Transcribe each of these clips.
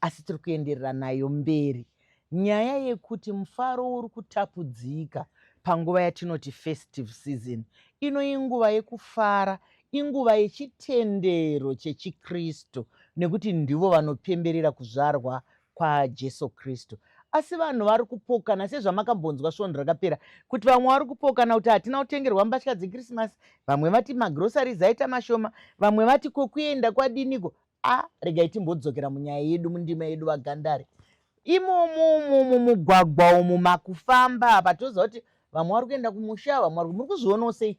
Asi tiri kuenderera nayo mberi nyaya yekuti mufaro uri kutapudzika panguva yatinoti festive season. Ino inguva yekufara, inguva yechitendero chechiKristu nekuti ndivo vanopemberera kuzvarwa kwaJesu Kristu. Asi vanhu vari kupokana sezvamakambonzwa svondo rakapera kuti vamwe vari kupokana kuti hatina kutengerwa mbatya dzeKrisimasi, vamwe vati magroceries aita mashoma, vamwe vati kokuenda kwadiniko. a regai timbodzokera munyaya yedu mundima yedu vagandari imomo umu mumugwagwa umu makufamba apa toziva kuti vamwe vari kuenda kumusha vamwe vari muri kuzvionawo sei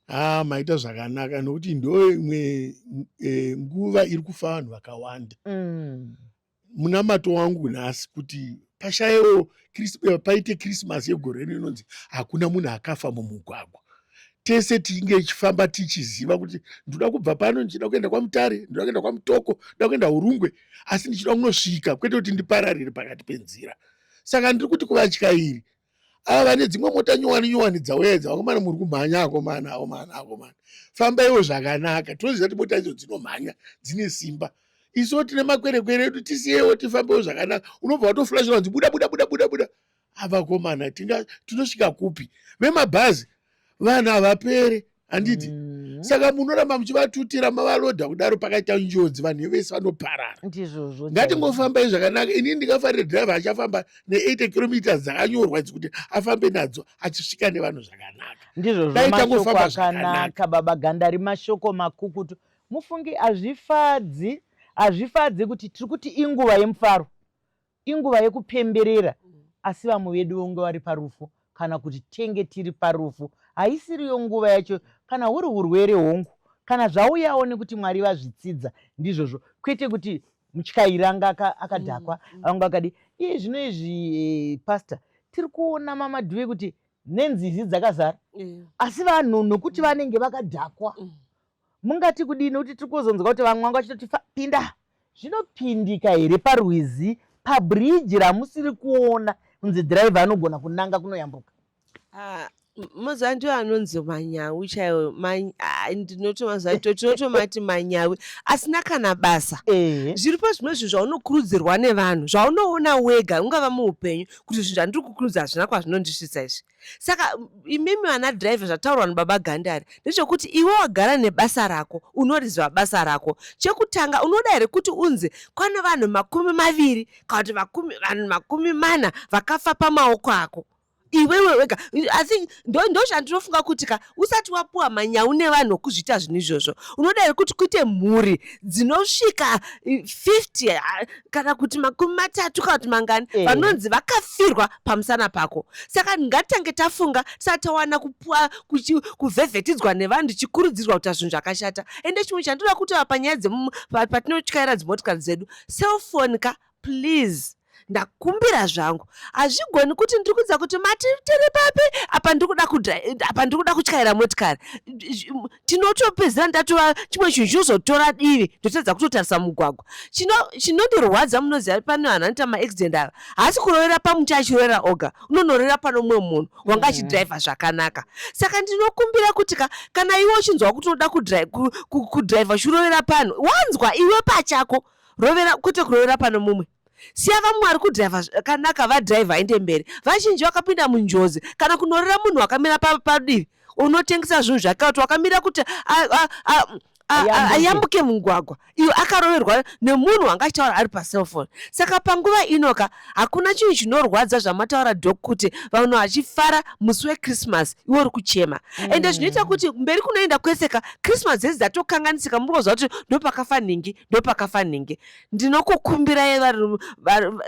ah maita zvakanaka nokuti ndo imwe e, nguva iri kufa vanhu vakawanda mm. munamato wangu nhasi kuti pashayewo paite krisimasi yegore rino inonzi hakuna munhu akafa mumugwagwa tese tinge ichifamba tichiziva kuti ndoda kubva pano ndichida kuenda kwamutare ndoda kuenda kwamutoko ndoda kuenda urungwe asi ndichida kunosvika kwete kuti ndipararire pakati penzira saka ndiri kuti kuvatyairi ava vane dzimwe mota nyowani nyowani dzauya idzi vakomana muri kumhanya akomana akomana akomana fambaiwo zvakanaka tinoziva kuti mota idzo dzinomhanya dzine simba isiwo tine makwerekwere edu tisiyewo tifambewo zvakanaka unobva watoflashira wanzi buda buda buda buda buda avakomana tinosvika kupi vemabhazi vanhu havapere handiti mm -hmm. saka munoramba muchivatutira mavaloda kudaro pakaita njodzi vanhu vese vanoparara ndizvozvo ngatingofambai zvakanaka inini ndingafarire driver achafamba ne80 kilometers dzakanyorwa idzi kuti afambe nadzo achisvika nevanhu zvakanaka ndizvozvoakanaka baba gandari mashoko makukutu mufungi hazvifadzi hazvifadzi kuti tiri kuti inguva yemufaro Inguva yekupemberera asi vamwe vedu vonge vari parufu kana kuti tenge tiri parufu. Haisiriyo nguva yacho kana huri hurwere hongu kana zvauyawo nekuti Mwari vazvitsidza ndizvozvo kwete kuti mutyairi anga akadhakwa mm, mm. anga akadi iye zvino izvi eh, pastor tiri kuona mamadhuve kuti nenzizi dzakazara asi vanhu nokuti mm. vanenge vakadhakwa mungati kudii nokuti tiri kuzonzwa kuti vamwe vanga vachitoti pinda zvinopindika here parwizi pabhiriji ramusiri kuona kunzi dhiraivha anogona kunanga kunoyambuka ah, mazuva ndiwo anonzi manyawi chaiwo ah, ndinoto mazuva aito tinotomati manyawi asina kana basa zviripo zvimwe zvinhu zvaunokurudzirwa nevanhu zvaunoona wega ungava muupenyu kuti zvinhu zvandiri kukurudza hazvina kwazvinondisvitsa izvi saka imimi vana driver zvataurwa nababa gandari ndechekuti iwe wagara nebasa rako unoriziva basa rako chekutanga unoda here kuti unzi kwane vanhu makumi maviri kana kuti vanhu makumi mana vakafa pamaoko ako iwewe wega i think ndochandinofunga kuti ka usati wapuwa manyawu nevanhu wokuzviita zvinhu izvozvo unoda here kuti kuite mhuri dzinosvika 50 eh, ah, kana kuti makumi matatu kana kuti mangani eh. vanonzi vakafirwa pamusana pako saka ngatitange tafunga tisati tawana kupuwa kuvhevhetidzwa nevanhu tichikurudzirwa kuita zvinhu zvakashata ende chimwe chandinoda kutaura panyaya dzemumu patinotyaira dzimotikari dzedu cellphone ka Please ndakumbira zvangu hazvigoni kuti ndiri kudza kuti mati tiri papi apa ndikuda apa ndikuda kutyaira motikari tinotopedzera ndatova chimwe chinhu chinozotora divi ndotadza kutotarisa mugwagwa chinondirwadza munoziva pane vanhu anoita maaccident ava haasi kurovera pamuti achirovera oga unonorera pano mumwe munhu wanga achidhiraivha zvakanaka saka ndinokumbira kuti ka kana iwe uchinzwa kuti unoda kudhiraivha uchirovera panhu wanzwa iwe pachako Rovera kwete kurovera pano mumwe. Siya vamwari kudhaiva zvakanaka vadhaiva inde mberi. Vazhinji vakapinda munjodzi kana kunorera munhu wakamira padivi unotengesa zvinhu zvake kuti wakamira kuti ayambuke mugwagwa iyo akaroverwa nemunhu wanga achitaura ari pacellphone saka panguva inoka Hakuna chinhu chinorwadza zvamataura dok kuti vanhu vachifara musi wechristmas iwe uri kuchema mm. ende zvinoita kuti mberi kunoenda kwese ka christmas dzese dzatokanganisika muri kuziva kuti ndopakafa nhingi ndopakafa nhingi ndinokukumbirai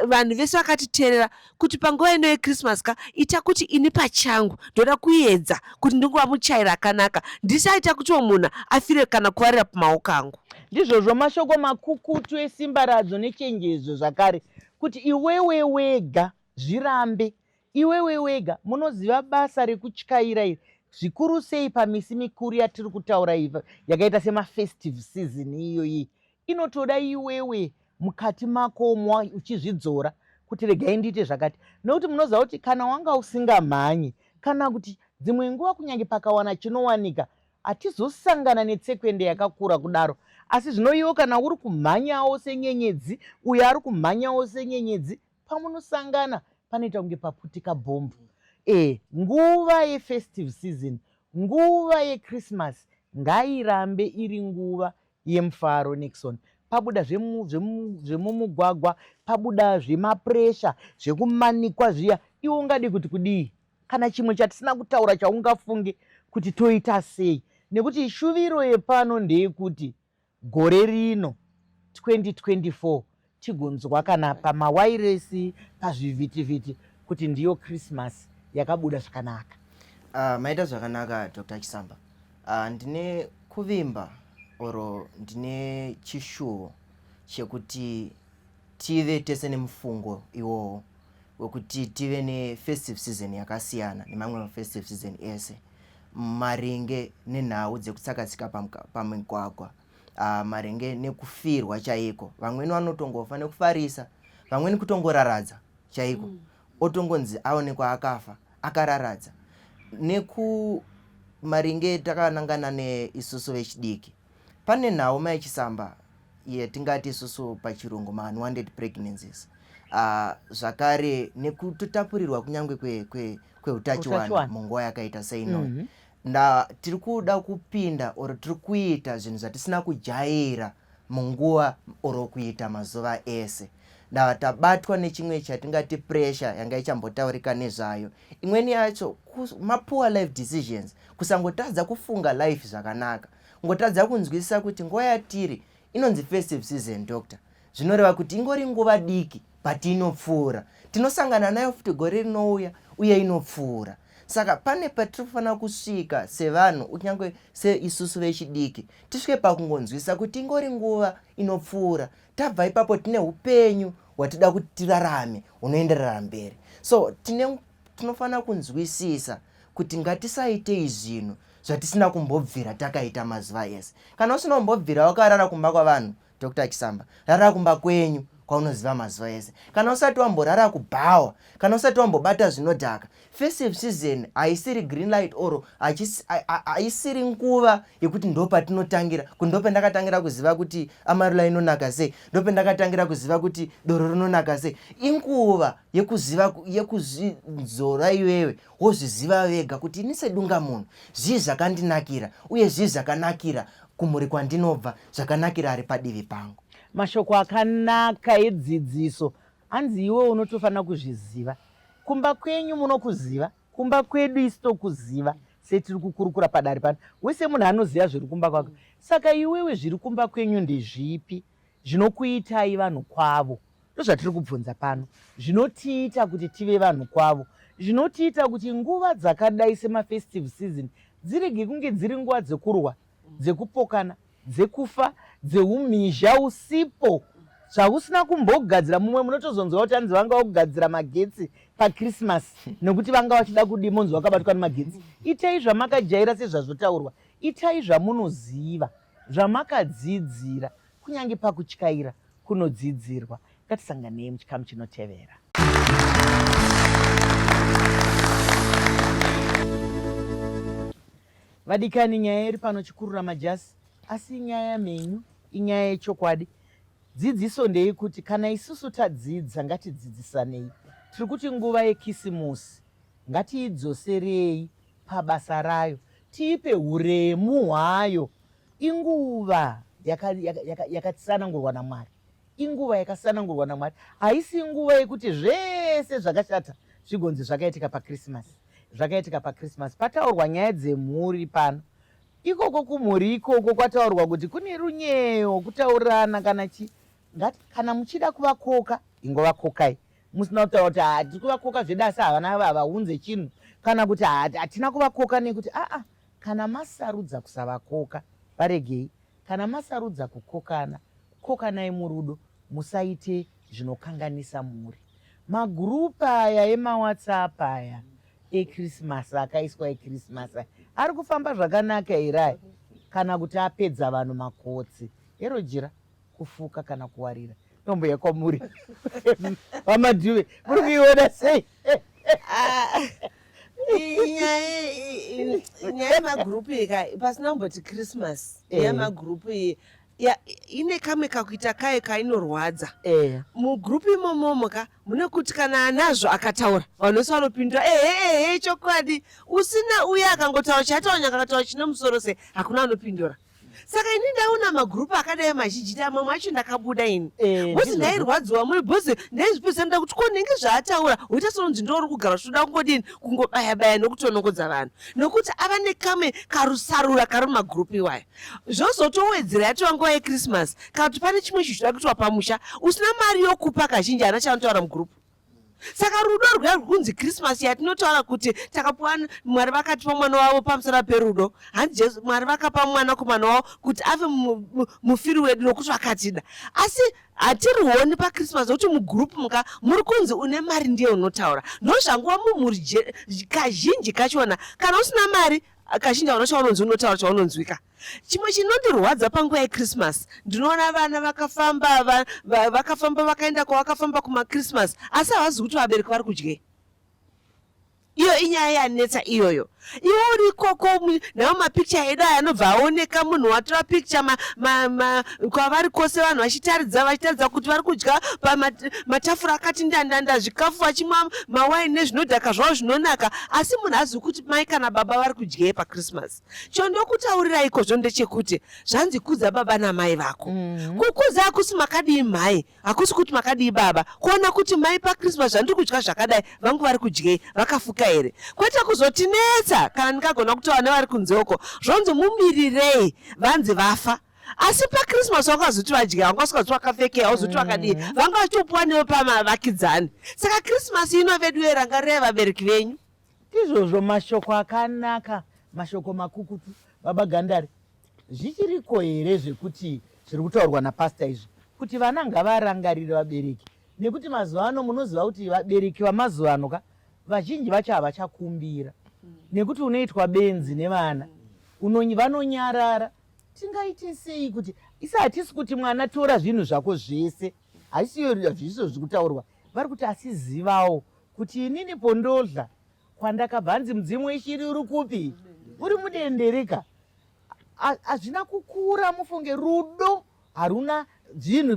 vanhu vese vakatiteerera kuti panguva ino yechristmas ka ita kuti ini pachangu ndoda kuedza kuti ndinguva muchairi akanaka ndisaita kutiwo munhu afire kana kuvarira pamaoko angu ndizvozvo mashoko makukutu esimbaradzo nechenjezo zvakare kuti iwewe wega zvirambe iwewe wega munoziva basa rekutyaira iri zvikuru sei pamisi mikuru yatiri kutaura iva yakaita semafestive season iyoyi inotoda iwewe mukati makomo uchizvidzora kuti regai ndiite zvakati nokuti munoziva kuti kana wanga usingamhanyi kana kuti dzimwe nguva kunyange pakawana chinowanika Hatizosangana netsekwende yakakura kudaro. Asi zvino iwo kana uri kumhanyawo senyenyedzi, uyo ari kumhanyawo senyenyedzi, pamunosangana panoita kunge paputika bhombu. E, nguva yefestive season, nguva yekrismasi ngairambe iri nguva yemufaro Nixon pabuda zvemumugwagwa zve zve pabuda zvemapuresha zvekumanikwa zviya iwe ungadi kuti kudii kana chimwe chatisina kutaura chaungafunge kuti toita sei nekuti shuviro yepano ndeyekuti gore rino 2024 tigonzwa kana pamawairesi pazvivhitivhiti kuti ndiyo christmas yakabuda zvakanaka uh, maita zvakanaka dr chisamba uh, ndine kuvimba or ndine chishuwo chekuti tive tese nemufungo iwowo wekuti tive nefestive season yakasiyana nemamwe mafestive season ese maringe nenhau dzekutsakatsika pamigwagwa uh, maringe nekufirwa chaiko vamweni vanotongofa nekufarisa vamweni kutongoraradza chaiko mm. otongonzi aonekwa akafa akararadza neku maringe takanangana neisusu vechidiki pane nhau maichisamba yatingati isusu pachirungu ma-unwanted pregnancies uh, zvakare nekutotapurirwa kunyange kweutachiwana kwe, kwe munguva yakaita seino mm -hmm. nda tiri kuda kupinda or tiri kuita zvinhu zvatisina kujaira munguva or kuita mazuva ese ndava tabatwa nechimwe chatingati pressure yanga ichambotaurika nezvayo imweni yacho mapoor life decisions kusangotadza kufunga life zvakanaka ngotadza kunzwisisa kuti nguva yatiri inonzi festive season doctor zvinoreva kuti ingori nguva diki but inopfuura tinosangana nayo futi gore rinouya uye inopfuura saka pane patiri kufanira kusvika sevanhu kunyange seisusu vechidiki tisvike pakungonzwisisa kuti ingori nguva inopfuura tabva ipapo tine upenyu hwatida kuti tirarame hunoenderera mberi so tine tinofanira kunzwisisa kuti ngatisaitei zvinhu zvatisina kumbobvira takaita mazuva ese kana usina kumbobvira wakarara kumba kwavanhu Dr Chisamba, rara kumba kwenyu kwaunoziva mazuva ese. Kana usati wamborara kubhawa, kana usati wambobata zvinodhaka, festive season haisiri green light or haisiri nguva yekuti ndopatinotangira kuti ndopendakatangira kuziva kuti amarula inonaka sei, ndopendakatangira kuziva kuti doro rinonaka sei. Inguva yekuziva yekuzvidzora iwewe Vozviziva vega kuti ini sedungamunhu zvii zvakandinakira uye zvii zvakanakira kumhuri kwandinobva, zvakanakira ari padivi pangu. Mashoko akanaka edzidziso hanzi iwe unotofanira kuzviziva. Kumba kwenyu munokuziva, kumba kwedu isi tokuziva setiri kukurukura padare pano. Wese munhu anoziva zviri kumba kwake. Saka iwewe zviri kumba kwenyu ndezvipi zvinokuitai vanhu kwavo? ndozvatiri kubvunza pano zvinotiita kuti tive vanhu kwavo zvinotiita kuti nguva dzakadai semafestive season dzirege kunge dziri nguva dzekurwa dzekupokana dzekufa dzeumhizha usipo zvausina kumbogadzira mumwe munotozonzwa kuti anzi vanga vagugadzira magetsi pakrisimasi nekuti vanga vachida kudi monzi vakabatwa nemagetsi itai zvamakajaira sezvazvotaurwa itai zvamunoziva zvamakadzidzira kunyange pakutyaira kunodzidzirwa ngatisanganei muchikamu chinotevera vadikani nyaya iri pano chikurura majasi asi inyaya menyu inyaya yechokwadi dzidziso ndeye kuti kana isusu tadzidza ngatidzidzisanei tiri kuti nguva yekisimusi ngatiidzoserei pabasa rayo tiipe huremu hwayo inguva yakatsanangurwa namwari inguva yakatsanangurwa namwari haisi nguva yekuti zvese zvakashata zvigonzi zvakaitika pakrisimasi zvakaitika pakrisimasi pataurwa nyaya dzemhuri pano ikoko kumhuri ikoko kwataurwa kuti kune runyeyo kutaurirana kana chi ngati kana muchida kuvakoka ingovakokai musina kutaura kuti haa tiri kuvakoka zvedu asi havana havaunze chinhu kana kuti hatina kuvakoka nekuti aa kana masarudza kusavakoka varegei kana masarudza kukokana kokanai murudo musaite zvinokanganisa mhuri magurupu aya emawhatsapp aya ekrisimasi akaiswa ekrisimasi aya ari kufamba zvakanaka here aya kana kuti apedza vanhu makotsi hero jira kufuka kana kuwarira nhombo yakwamuri vamadhuve muri kuiona sei ah, nyaya yemagrupu iyi ka pasina kumboti christmas eh. yemagrupu iyi ine kamwe kakuita kayo kainorwadza eh. mugrupu imomomo ka mune kuti kana anazvo akataura vanhu vese vanopindura eheehe chokwadi usina uye akangotaura chataura nyakakataura chine musoro sei hakuna anopindura saka ini ndaona magrupu akadai mazhinjita mamwe acho ndakabuda ini eh, bhozi ndairwadziwa mune bhozi ndaizvipedza nda kuti ko nenge zvaataura woita sononzi ndouri kugara zvichitoda kungodini kungobaya baya nokutonongodza vanhu nokuti ava nekame karusarura kari mumagrupu iwayo zvozotowedzera yatova nguva yechristmas kana kuti pane chimwe chichidakuitwa pamusha usina mari yokupa kazhinji ana chanotaura mugrupu saka rudo rwedu kunzi krismasi yatinotaura kuti takapuwa mwari vakatipa mwana wavo pamusana perudo hanzi jesu mwari vakapa mwana kumwana wavo kuti ave mufiri wedu nokuti vakatida asi hatirioni pakrismas kuti mugroup muka muri kunzi une mari ndiye unotaura ndozvanguva mumhuri kazhinji kachona kana usina mari kazhinji vanocha vanonzi unotaura chaunonzwika Chimwe chinondirwadza panguva yeChristmas ndinoona vana vakafamba va, va, vakafamba vakaenda kwavakafamba kumaChristmas asi havazi kuti vabereki vari kudyei iyo inyaya yanetsa iyoyo iwe uri ikoko nawo mapikicha edu aya anobva aoneka munhu watora pikicha kwavari kwose vanhu vachitaridza vachitaridza kuti vari kudya pamatafura akati ndandanda zvikafu vachimwa mawaini nezvinodhaka zvavo zvinonaka asi munhu azivi kuti mai kana baba vari kudyei pachristmas chondokutaurira ikozvo ndechekuti zvanzi kudza baba namai vako mm. kukudza hakusi makadii mhai hakusi kuti makadii baba kuona kuti mai pakrismas zvandiri kudya zvakadai vangu vari kudyei vakafuka here kwete kuzotinetsa kana ndikagona kutaura nevari kunzeuko zvonzi mumirirei vanzi vafa asi pakrismas wakazoti vadya vanga usikazoti wakapfekea wazoti wakadii mm. vanga vachitopuwa newe pamavakidzani saka krismas ino vedu yeranga revabereki venyu Ndizvozvo mashoko akanaka, mashoko makukutu, baba Gandari. Zvichiriko here zvekuti zviri kutaurwa napastor izvi kuti vana ngavarangarire vabereki nekuti mazuva ano munoziva kuti vabereki vamazuva ano ka vazhinji vacho havachakumbira nekuti unoitwa benzi nevana vanonyarara tingaite sei kuti isi hatisi kuti mwana tora zvinhu zvako zvese hazvisiyo zvizvo zviri kutaurwa vari kuti asizivawo kuti inini pondodla kwandakabva hanzi mudzimu weshiri uri kupi uri mudendereka hazvina kukura mufunge rudo haruna zvinhu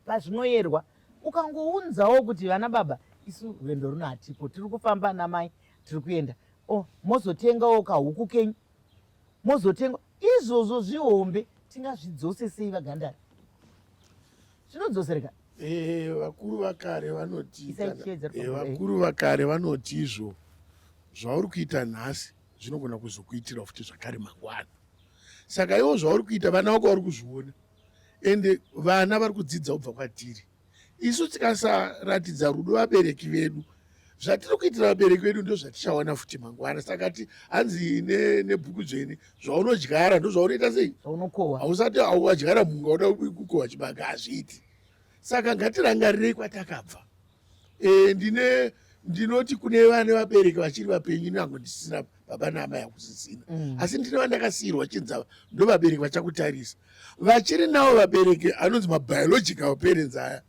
pazvinoyerwa ukangounzawo kuti vana baba isu rwendo runo hatipo tiri kufamba namai tiri kuenda o oh, mozotengawo kahuku kenyu mozotenga izvozvo zvihombe tingazvidzose sei vagandara zvinodzosereka eh, vakuru vakare vanoti eh, vakuru vakare vanoti izvo zvauri kuita nhasi zvinogona kuzokuitira futi zvakare mangwana saka iwo zvauri kuita vana vako vari kuzviona ende vana vari kudzidza kubva kwatiri isu tikasaratidza rudo vabereki vedu zvatiri kuitira vabereki vedu ndozvatichawana futi mangwana saka ti hanzi nebhuku dzvene zvaunodyara ndozvaunoita sei hausati auadyara munhu wauda kukohwa chibage hazviiti saka ngatirangarirei kwatakabva e, ndine ndinoti kune vane vabereki vachiri vapenyu nango ndisina baba naamai hakusisina mm. asi ndine vandakasiyirwa chinzava ndo vabereki vachakutarisa vachiri navo vabereki anonzi mabiological parents aya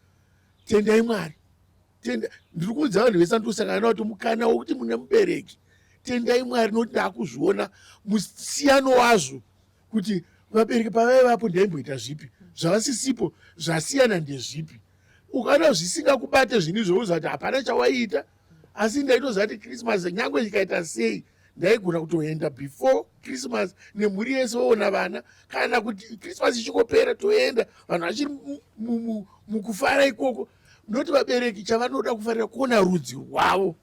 tendai mwari tenda ndiri kuudza vanhu vese ndosangana navo kuti mukana wokuti mune mubereki tendai mwari nokuti ndaakuzviona musiyano wazvo kuti vabereki pavaivapo ndaimboita zvipi zvavasisipo zvasiyana ndezvipi ukaona zvisingakubate zvini zvouza kuti hapana chawaiita asi ndaitoziva kuti krismas nyange chikaita sei ndaigona kutoenda before christmas nemhuri yese oona vana kana kuti christmas ichikopera toenda vanhu vachiri mukufara ikoko noti vabereki chavanoda kufarira kuona rudzi rwavo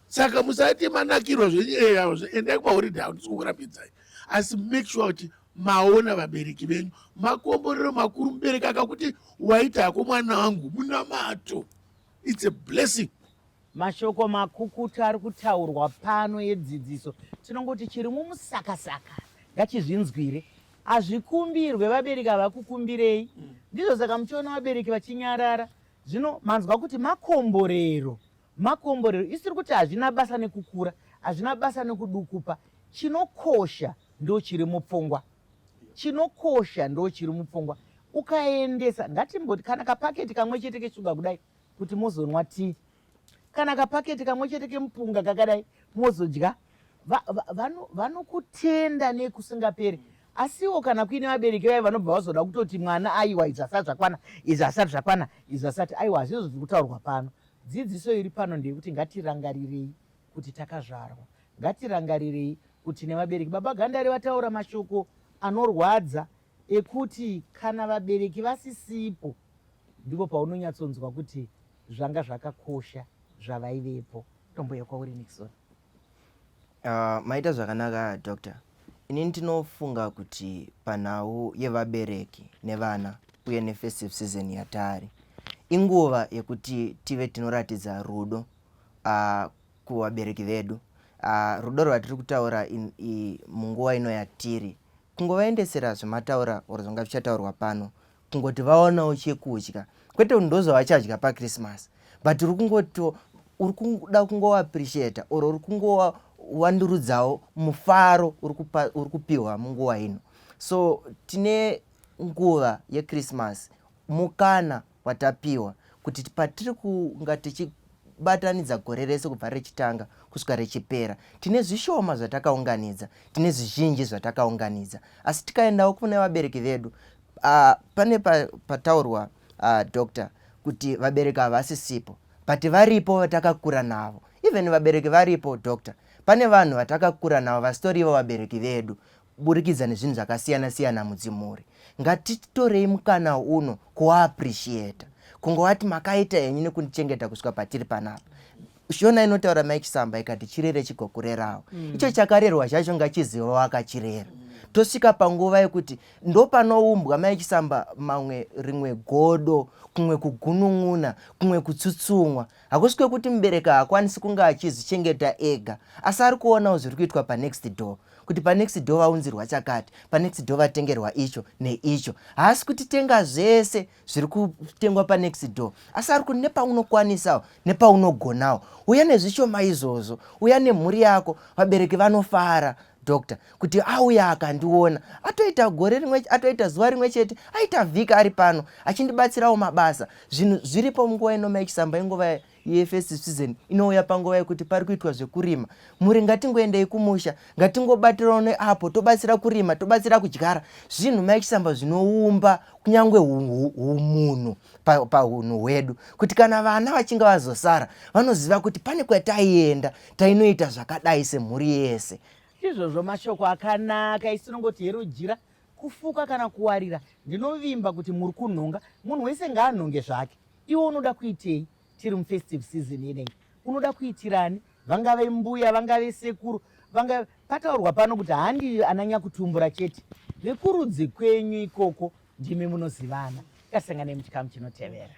saka musati manakirwa zvenyeyavo eh, zviendai kumahoride avo ndisikukurambidzai asi make sure kuti maona vabereki venyu makomborero makuru mubereki akakuti waita hako mwana wangu munamato its a blessing Mashoko makukutu ari kutaurwa pano yedzidziso tinongoti chiri mumusakasaka ngachizvinzwire. Hazvikumbirwe vabereki havakukumbirei. Mm. Ndizvo saka muchiona vabereki vachinyarara. Zvino manzwa kuti makomborero. Makomborero isiri kuti hazvina basa nekukura, hazvina basa nekudukupa. Chinokosha ndochiri mupfungwa. Chinokosha ndochiri mupfungwa. Ukaendesa ngatimboti kana kapaketi kamwe chete keshuga kudai kuti mozonwa tii kana kapaketi kamwe chete kemupunga kakadai mozodya vanokutenda va, va, va nekusingaperi asiwo kana kuine vabereki vaye vanobva vazoda kutoti mwana aiwa izvi asati zvakwana izvi asati zvakwana izvi asati aiwa hazvizvo zviri kutaurwa pano dzidziso iri pano ndeyekuti ngatirangarirei kuti takazvarwa ngatirangarirei kuti nevabereki baba gandari vataura mashoko anorwadza ekuti kana vabereki vasisipo ndipo paunonyatsonzwa kuti zvanga zvakakosha zvavaivepo tombouya kwauri nixon uh, maita zvakanaka doctor ini ndinofunga kuti panhau yevabereki nevana uye nefestive season yataari inguva yekuti tive tinoratidza rudo uh, kuvabereki vedu uh, rudo rwatiri kutaura in, i, munguva ino yatiri kungovaendesera zvamataura or zvanga zvichataurwa pano kungoti vaonawo chekudya kwete kuti ndozvavachadya pachristmas but uri kungoti uri kuda kungovaappreciata or uri kungowandurudzawo mufaro uri kupiwa munguva ino so tine nguva yechristmas Mukana watapiwa kuti patiri kunga tichi batanidza gore rese kubva rechitanga kusvika rechipera tine zvishoma zvatakaunganidza tine zvizhinji zvatakaunganidza asi tikaendawo kune vabereki vedu uh, pane pataurwa pa uh, doctor kuti vabereki havasisipo but varipo vatakakura navo even vabereki varipo doctor pane vanhu vatakakura navo vasitorivo vabereki vedu kuburikidza nezvinhu zvakasiyana siyana mudzimhuri ngatitorei mukana uno kuaappreciata kungovati makaita henyu nekundichengeta kusvika patiri panapa shona inotaura mai chisamba ikati chirere chigokurerawo mm. icho chakarerwa zvacho ngachiziva wakachirera tosvika panguva yekuti ndopanoumbwa mai chisamba mamwe rimwe godo kumwe kugunun'una kumwe kutsutsumwa hakusi kwekuti mubereki haakwanisi kunge achizvichengeta ega asi ari kuonawo zviri kuitwa panext door kuti panext door vaunzirwa chakati panext door vatengerwa icho neicho haasi kuti tenga zvese zviri kutengwa panext door asi ari kuti nepaunokwanisawo nepaunogonawo uya nezvishoma izvozvo uya nemhuri yako vabereki vanofara doctor kuti auye akandiona atoita gore rimwe atoita zuva rimwe chete aita vhika ari pano achindibatsirawo mabasa zvinhu zviripo munguva inoma yechisamba inguva yefirst season inouya panguva yekuti pari kuitwa zvekurima mhuri ngatingoendei kumusha ngatingobatirawo neapo tobatsira kurima tobatsira kudyara zvinhu maichisamba zvinoumba kunyange umunhu pahunhu hwedu kuti kana vana vachinge vazosara vanoziva kuti pane kwataienda tainoita zvakadai semhuri yese izvozvo mashoko akanaka isinongoti hero jira kufuka kana kuwarira ndinovimba kuti muri kunhonga munhu wese ngaanhonge zvake iwe unoda kuitei tiri mufestive season inei unoda kuitirani vangave mbuya vangave sekuru vangave pataurwa pano kuti handi ananyakutumbura chete vekurudzi kwenyu ikoko ndimi munozivana tasanganei muchikamu chinotevera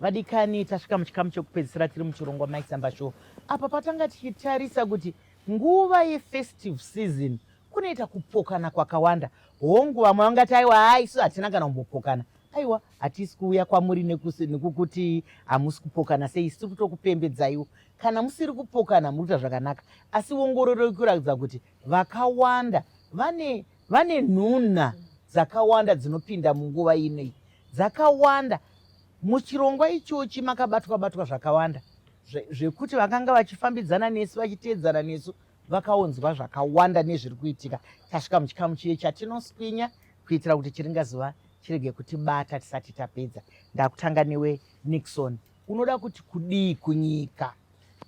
vadikani tasvika muchikamu chekupedzisira tiri muchirongwa maisamba show apa patanga tichitarisa kuti nguva yefestive season kunoita kupokana kwakawanda hongu vamwe vangati aiwa haa isu hatina kana kumbopokana aiwa Hatisi kuuya kwamuri nekukuti hamusi kupokana sei, siri kutokupembedzaiwo. Kana musiri kupokana muri kuita zvakanaka, asi ongororo iri kuratidza kuti vakawanda vane vane nhunha dzakawanda dzinopinda munguva inei dzakawanda muchirongwa ichochi makabatwa batwa zvakawanda zvekuti vakanga vachifambidzana nesu vachiteedzana nesu vakaunzwa zvakawanda nezviri kuitika tasvika muchikamu chiye chatinoswinya kuitira kuti chiringazuva chirege kutibata tisati tapedza ndakutanga newe nixon unoda kuti kudii kunyika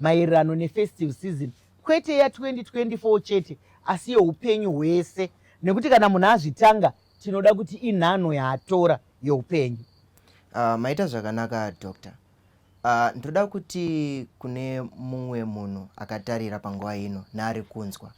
maererano nefestive season kwete ya 2024 chete asi yeupenyu hwese nekuti kana munhu azvitanga tinoda kuti inhanho yaatora youpenyu uh, maita zvakanaka doctor Uh, ndoda kuti kune mumwe munhu akatarira panguva ino naari kunzwa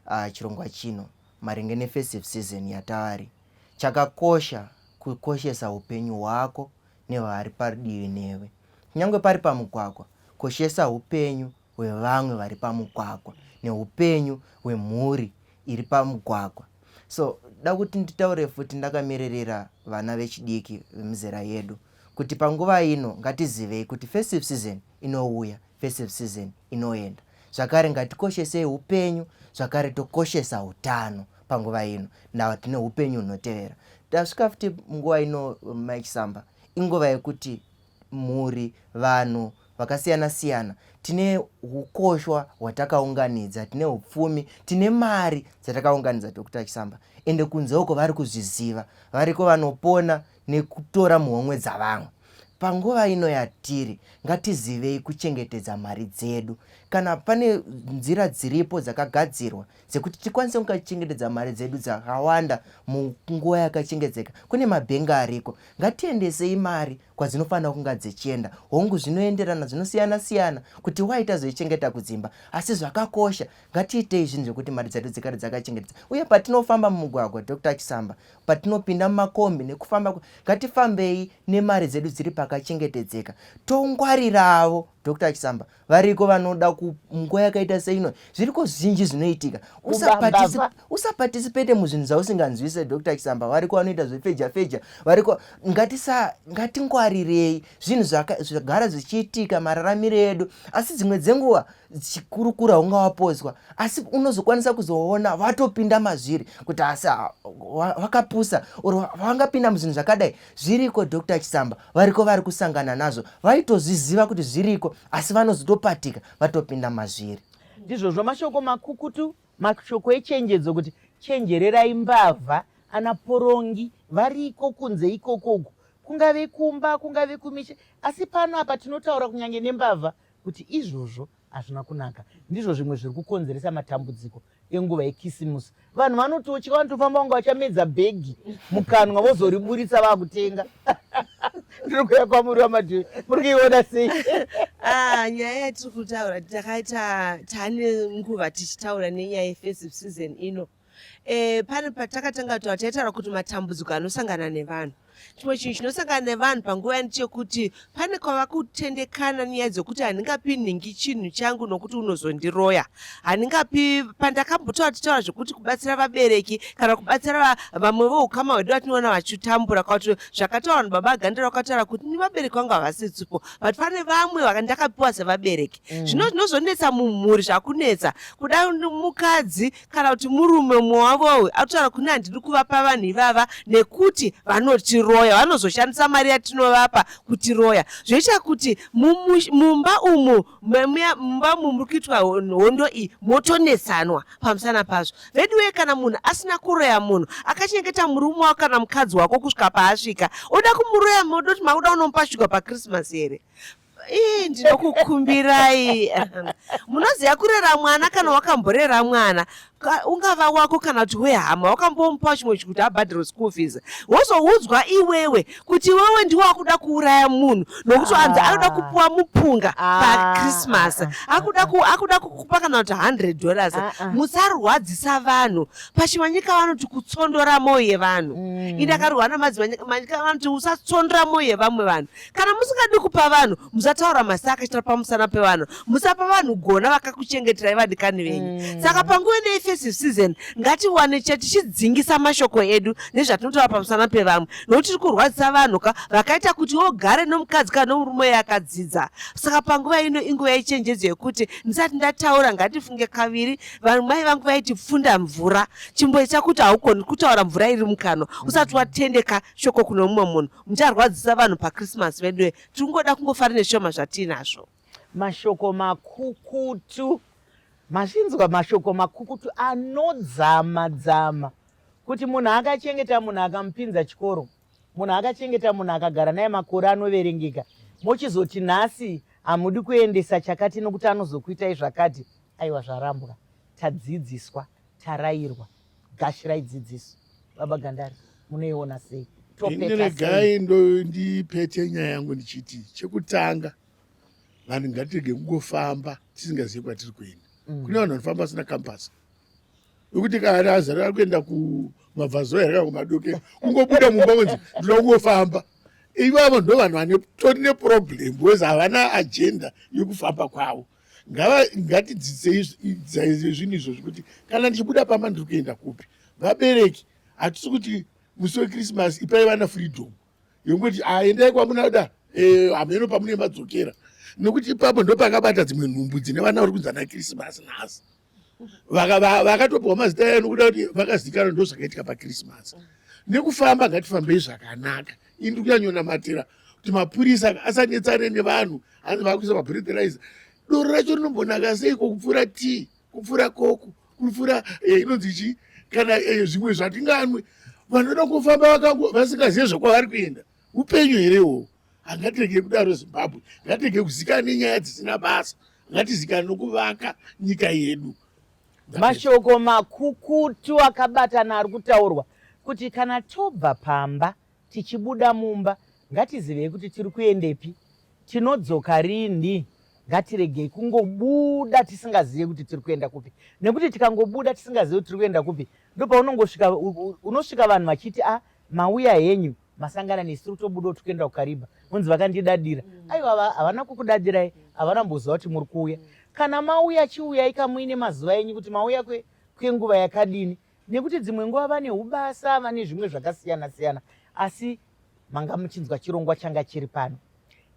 uh, chirongwa chino maringe nefestive season yataari chakakosha kukoshesa upenyu hwako nevaari padivi newe kunyange pari pamugwagwa koshesa upenyu hwevamwe vari pamugwagwa neupenyu hwemhuri iri pamugwagwa so da kuti nditaure futi ndakamiririra vana vechidiki vemizera yedu kuti panguva ino ngatizivei kuti festive season inouya festive season inoenda zvakare ngatikoshesei upenyu zvakare tokoshesa utano panguva ino nawa tine upenyu hunotevera tasvika futi nguva ino maichisamba inguva yekuti mhuri, vanhu vakasiyana siyana tine ukoshwa hwatakaunganidza, tine upfumi, tine mari dzatakaunganidza Dr Chisamba, ende kunze uko vari kuzviziva, variko vanopona nekutora muhomwe dzavamwe. Panguva ino yatiri, ngatizivei kuchengetedza mari dzedu. Kana pane nzira dziripo dzakagadzirwa dzekuti tikwanise kunga tichengetedza mari dzedu dzakawanda munguva yakachengedzeka kune mabhengi ariko ngatiendesei mari kwadzinofanira kunga dzichienda hongu zvinoenderana zvinosiyana siyana kuti wai tazoichengeta kudzimba asi zvakakosha ngatiitei zvinhu zvekuti mari dzedu dzikare dzakachengetedza uye patinofamba mumugwagwa dr chisamba patinopinda mumakombi nekufamba ngatifambei nemari dzedu dziri pakachengetedzeka tongwariravo dr chisamba variko vanoda kunguva yakaita seino zviriko zvinji zvinoitika usapatisipete muzvinhu zvausinganzwise dr chisamba variko vanoita zvefeja feja variko ngatingwarirei zvinhu zvagara zvichiitika mararamiro edu asi dzimwe dzenguva chikurukura ungawapozwa asi unozokwanisa kuzoona vatopinda mazviri kuti asi vakapusa or vangapinda muzvinhu zvakadai zviriko Doctor Chisamba variko vari kusangana nazvo vaitozviziva kuti zviriko asi vanozotopatika vatopinda mazviri ndizvozvo mashoko makukutu mashoko echenjedzo kuti chenjererai mbavha ana porongi variko kunze ikokoku kungave kumba kungave kumisha asi pano apa tinotaura kunyange nembavha kuti izvozvo hazvina kunaka ndizvo zvimwe zviri kukonzeresa matambudziko enguva yekisimusi vanhu vanototya vanotofamba vanga vachamedza bhegi mukanwa vozoriburitsa vakutenga ndiri kuya kwamuri wamadhiri muri kuiona sei ah, nyaya yatiri kutaura takaita tane nguva tichitaura nenyaya yefestive season ino e, pane patakatanga kutaura taitaura kuti matambudziko anosangana nevanhu chimwe chinhu chinosangana nevanhu panguva yani chekuti pane kwava kutendekana nyaya dzekuti handingapi nhingi chinhu changu nokuti unozondiroya handingapi pandakambotaura titaura zvekuti kubatsira vabereki kana kubatsira vamwe voukama hwedu vatinoona vachitambura kwakuti zvakataura vanhu baba agandira vakataura kuti ni vabereki vangu havasi tsipo but pane vamwe vakandakapiwa sevabereki mm. zvino zvinozonetsa mumhuri zvakunetsa kuda mukadzi kana kuti murume mumwe wavo uyu akutaura kune handidi kuvapa vanhu ivava nekuti vanotiroya vanozoshandisa mari yatinovapa kutiroya zvoita kuti mumba umu mumba umu muri kuitwa hondo iyi motonetsanwa pamusana pazvo veduwe kana munhu asina kuroya munhu akachengeta murume wako kana mukadzi wako kusvika paasvika oda kumuroya moda kuti makuda unomupa shuga pakrismas here ii ndinokukumbirai munoziva kurera mwana kana wakamborera mwana ungava wako kana kuti wehama wakambomupa chimwe chikuti abhadhiro school fees wozoudzwa iwewe kuti iwewe ndiwe wakuda kuuraya munhu nokuti anzi anoda ah. kupuwa mupunga ah. pachristmas ah, akuda kukupa kana kuti 100 dollars musarwadzisa vanhu pachimanyika vanoti kutsondora mwoyo yevanhu mm. ini akarwa namadzimanyika vanoti usatsondora mwoyo yevamwe vanhu kana musingadi kupa vanhu musataura masi akaitira pamusana pevanhu musapa vanhu gona vakakuchengeterai vadikani venyu mm. saka panguva nei festive season ngatiwane che tichidzingisa mashoko edu nezvatinotaura pamusana pevamwe nokuti tiri kurwadzisa vanhu ka vakaita kuti wogare nomukadzi kana nomurume yakadzidza saka panguva ino inguva yechenjedzo yekuti ndisati ndataura ngatifunge kaviri vanhu mai vangu vaiti pfunda mvura chimboita kuti haukoni kutaura mvura iri mukanwa usati watendeka shoko kuno mumwe munhu mucharwadzisa vanhu pachristmas veduwe tiri kungoda kungofara neshoma zvatiinazvo mashoko makukutu mazvinzwa mashoko makukutu anodzama dzama kuti munhu akachengeta munhu akamupinza chikoro munhu akachengeta munhu akagara naye makore anoverengeka mochizoti nhasi hamudi kuendesa chakati nokuti anozokuitai zvakati aiwa zvarambwa tadzidziswa tarayirwa gashira idzidziso baba gandari munoiona sei ineregai ndipete nyaya yangu ndichiti chekutanga vanhu ngatirege kungofamba tisingazivi kwatiri kuenda mm. kune vanhu vanofamba vasina kampasi wekuti kaari azari ari kuenda kumabvazo here kana kumadoke kungobuda mumba kunzi ndinoda kungofamba ivavo ndo vanhu vane tori neproblem bcause havana agenda yekufamba kwavo ngava ngatidzidzei zvinhu izvozvi kuti kana ndichibuda pamba ndiri kuenda kupi vabereki hatisi kuti musi wekrismas ipai vana freedom yekuti aendai ah, kwamunoda eh, hameno e, pamunemadzokera nekuti ipapo ndopakabata dzimwe nhumbu dzine vana vari kunzi ana krismas nhasi vakatopiwa mazita aya nokuda kuti vakazikana ndozvakaitika pakrismas nekufamba ngatifambei zvakanaka ini ndi kunyanyonamatira kuti mapurisa asanetsane nevanhu hanzi vakuisa mabreterize doro racho rinombonaka seiko kupfuura tii kupfuura koko kupfuura eh, inonzi chii kana eh, zvimwe zvatinganwe vanoda kufamba vasingazive zvekwavari kuenda upenyu here iwowo hangatege kudaro zimbabwe ngatege kuzikana nenyaya dzisina basa ngatizikana nokuvaka nyika yedu mashoko makukutu akabatana ari kutaurwa kuti kana tobva pamba tichibuda mumba ngatizivei kuti tiri kuendepi tinodzoka rinhi ngatiregei kungobuda tisingazive kuti tiri kuenda kupi nekuti tikangobuda tisingazive kuti tiri kuenda kupi ndopaunongosvika unosvika vanhu vachiti a ah, mauya henyu masangana nesu tiri kutobudawo tiri kuenda kukariba unzi vakandidadira mm. aiwa havana kukudadirai havana mboziva kuti muri kuuya kana mauya chiuyai kamuine mazuva enyu kuti mauya kwenguva yakadini nekuti dzimwe nguva vane ubasa vane zvimwe zvakasiyana siyana asi manga muchinzwa chirongwa changa chiri pano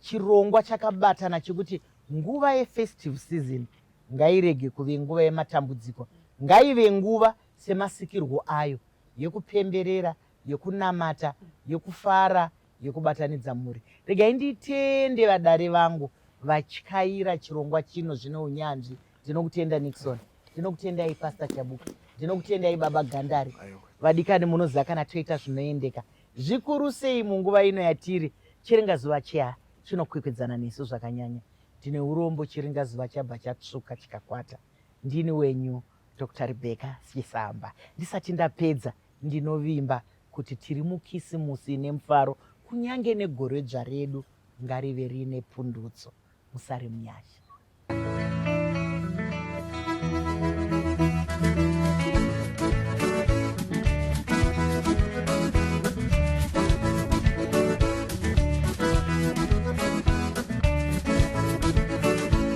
chirongwa chakabatana chekuti nguva yefestive season ngairege kuve nguva yematambudziko ngaive nguva semasikirwo ayo yekupemberera yekunamata yekufara yekubatanidza mhuri regai nditende vadare vangu vatyaira chirongwa chino zvine unyanzvi ndinokutenda nixon ndinokutendai pasta chabuka ndinokutendai baba gandari vadikani munoziva kana toita zvinoendeka zvikuru sei munguva ino yatiri chiringazuva cheha chinokwikwidzana nesu zvakanyanya ndine urombo chiringazuva chabva chatsvuka chikakwata ndini wenyu Dr Rebecca Chisamba. Ndisati ndapedza ndinovimba kuti tiri mukisimusi ine mufaro kunyange negore dzva redu ngarive riine pundutso. Musare munyasha.